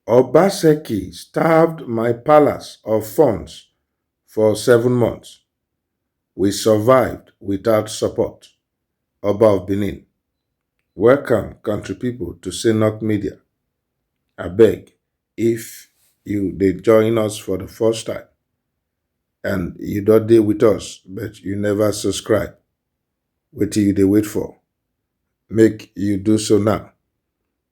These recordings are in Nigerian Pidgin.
Obaseki starved my palace of funds for seven months, we survived without support, Oba of Benin, Welcome country people to Synnock Media, abeg if you dey join us for the first time and you don dey with us but you never subscribe, wetin you dey wait for? Make you do so now.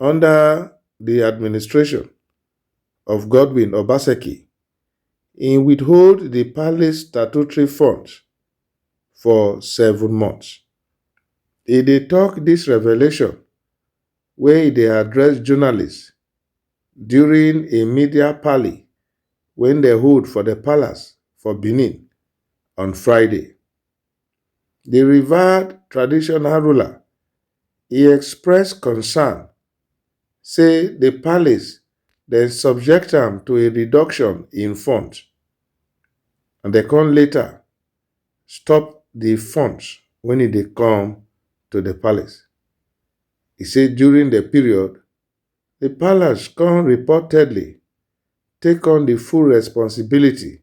Under di administration of Godwin Obaseki, e withhold di palace statutory funds for seven months. E dey tok dis revelation wen e dey address journalists during a media parley wen dem hold for di palace for Benin on Friday. di revered traditional ruler e express concern say di palace dem subject am to a reduction in funds and dem come later stop di funds wen e dey come to di palace. E say during di period, di palace come reportedly take on di full responsibility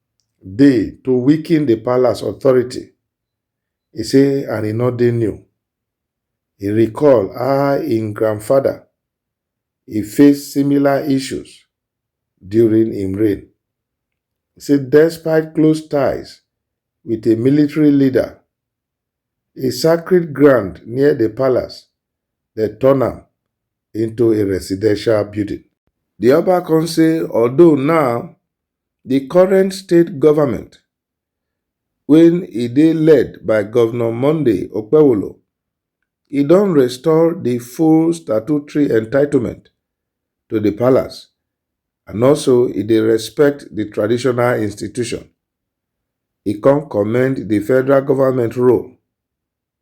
dey to weaken di palace authority, e say and e no dey new. E recall how im grandfather e face similar issues during im reign. E say despite close ties wit a military leader, a sacred ground near di palace dem turn am into a residential building. Di Oba come say although now Di current state government wey e dey led by Govnor Monday Okpewolo, e don restore di full statutory entitlement to di palace and also e dey respect di traditional institution. E kon commend di federal government role.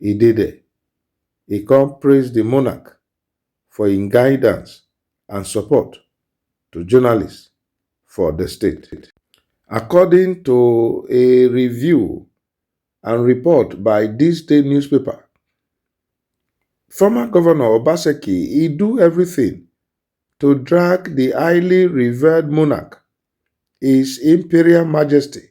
e dey there. E come praise di monarch for im guidance and support to journalists for di state. According to a review and report by dis day newspaper, former govnor Obaseki e do everything to drag di highly revered monarch, His Imperial Majesty,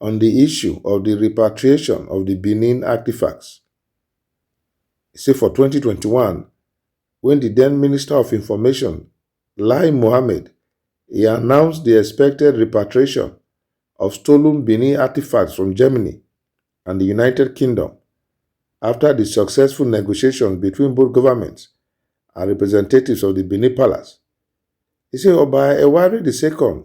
on di issue of di repatriation of di Benin artefacts, e say for twenty twenty one, wen di den Minister of Information, Lai Mohammed, e announce di expected repatriation of stolen Benin artefacts from Germany and di United Kingdom afta di successful negotiations between both governments and representatives of di Benin Palace. E say Oba Ewari II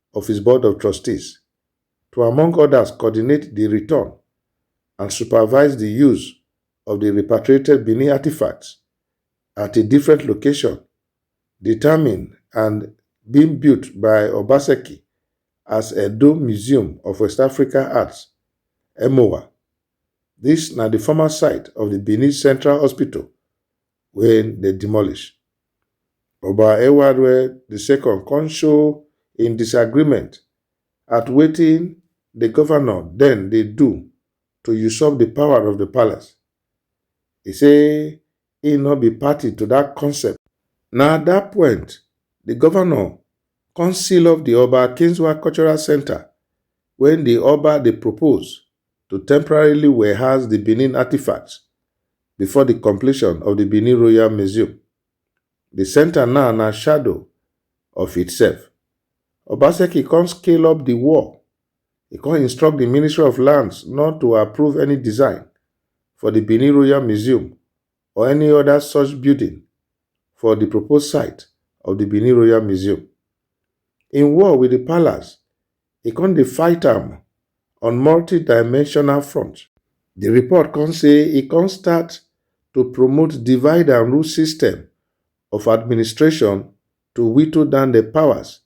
of his Board of Trustees to among others coordinate di return and supervise di use of di repatriated Benin artifacts at a different location determined and being built by Obaseki as Edo Museum of West African Arts, EMWA. Dis na di former site of di Benin Central Hospital wey dem demolish. Oba Ewarue II come show im disagreement at wetin di governor den dey do to usurp di power of di palace. E say im no be party to dat concept. Na at dat point di governor come seal off di Oba Akinzuwa Cultural Centre wey di Oba dey propose to temporarily warehouse di Benin artifacts before di completion of di Benin Royal Museum. Di centre now na shadow of itself. Obaseki come scale up di wall, e come instruct di Ministry of Lands not to approve any design for di Benin Royal Museum or any oda such building for di proposed site of di Benin Royal Museum. Im war wit di palace e kon dey fight am on multi-dimensional front. Di report kon say e kon start to promote divide-and-rule system of administration to whittle down di powers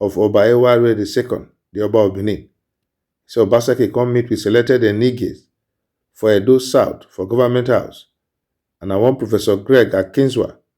of Oba Ewarire di Second, di Oba of Benin. E say Obaseki kon meet wit selected Enigies for Edo South for Government House and na one Professor Greg Akinzua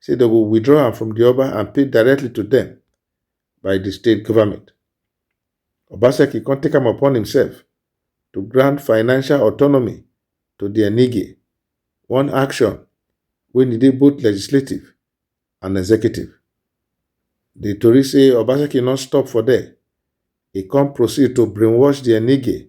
say dem go withdraw am from di Oba and pay directly to dem by di state government. Obaseki come take am upon himself to grant financial autonomy to di Enige, one action wey e dey both legislative and executive. Di tori say Obaseki no stop for there, e come proceed to brainwash di Enige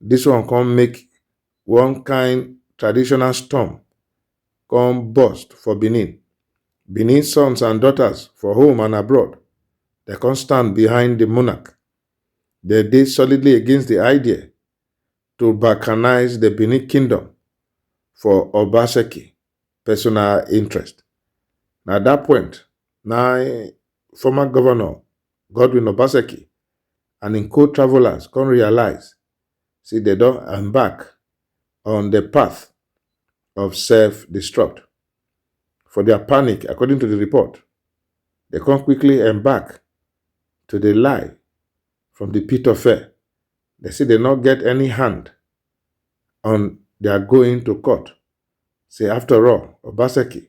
Dis one come make one kind traditional storm come burst for Benin. Benin sons and daughters for home and abroad, they come stand behind the monarch. They dey solidly against the idea to balkanize the Benin kingdom for Obaseki personal interest. Na that point, na former governor Godwin Obaseki and im co-travelers come realize say dem don embark on di path of self-destruct. For dia panic, according to di report, dem come quickly embark to dey lie from di pit of fear. Dem say dem no get any hand on dia going to court, say afta all, Obaseki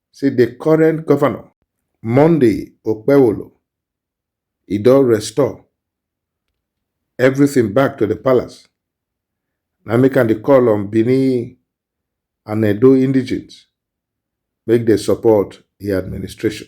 say di current govnor, Monday Okpewolo, e don restore everything back to di palace, na im make am dey call on Bini and Edo indigenes make dem support im administration.